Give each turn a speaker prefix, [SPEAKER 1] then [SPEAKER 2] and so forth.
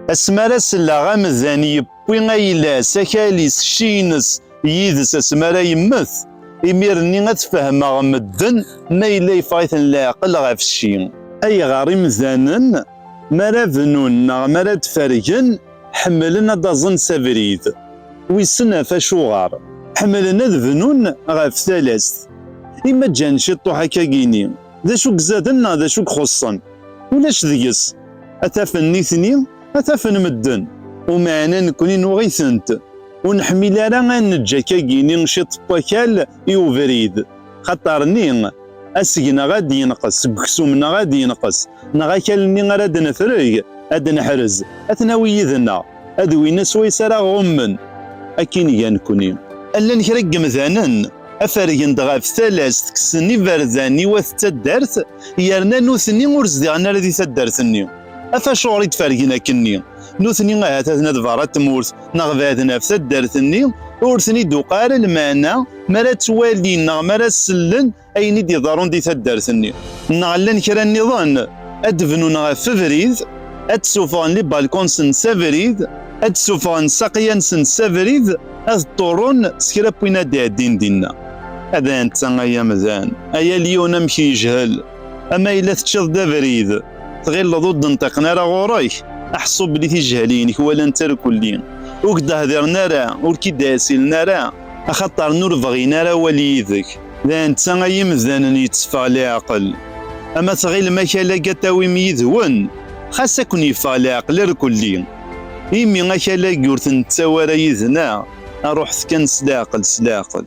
[SPEAKER 1] Asmi ara selleɣ amdan yewwi ayla-s, akal-is, cci-ines yid-s asmi ara yemmet, imir-nni ad fehmeɣ medden ma yella yeffeɣ-iten leɛqel ɣef cci. Ayɣer imdanen mi ara bnun neɣ mi ara d-fergen ḥemmlen ad d-aẓen s abrid? Wissen ɣef acuɣer? Ḥemmlen ad bnun ɣef talast. I ma ǧǧan ciṭuḥ akka gini, d acu i izaden neɣ d acu i ixuṣṣen? Ulac deg-s, ad tafen nitni, ad tafen medden. Umeɛna nekni nuɣ-itent. Ur neḥmil ara ad neǧǧ akkagi-ni ciṭ n wakal i ubrid. Xaṭer ni, aseg-neɣ ad d-yenqes seg uksum-neɣ ad d-yenqes, neɣ akal-nni ara d-nefreg, ad d-neḥrez, ad t-nawi yid-neɣ, ad win aswayes ara ɣummen. Akkin i ga nekni. Llan kra n yemdanen afergen-d ɣef talas tekksen iberdan i wat taddart yerna nutni ur zdiɣen ara di taddart-nni afacuɣer i d-fergen akkenni nutni ahat aten ad berra tmurt neɣ baden ɣef taddart-nni ur ten-id-uqa ara lmeɛna mi ara ttwalin neɣ mi ara sellen ayen i d-iḍerrun di taddart-nni neɣ llan kra nniḍen ad d-bnun ɣef ubrid ad d-sufɣen libalkons-nsen abrid ad d-sufɣen saqya-nsen abrid Ad ṭṭurun s kra n win ad d-iɛeddin dinna. Ad anta ay amdan, ay alyon amek yejhel! Ama yella teččiḍ-d abrid, tɣilleḍ ur d-nṭiqen ara ɣur-k, aḥṣu belli tijehliyin-ik walan tarkulli, ur k-d-hdiren ara, ur k-id-ɛsilen ara, axaṭer n ur bɣin ara awal yid-k. D anta ay imdanen yetteffeɣ leɛqel! Ama tɣilem akal-agi ad t-tawim yid-wen, xas ad ken-yeffeɣ leɛqel irkulli. Imi akal-agi ur ten-nettawi ara yid-neɣ, ruḥet kan s leɛqel, s leɛqel.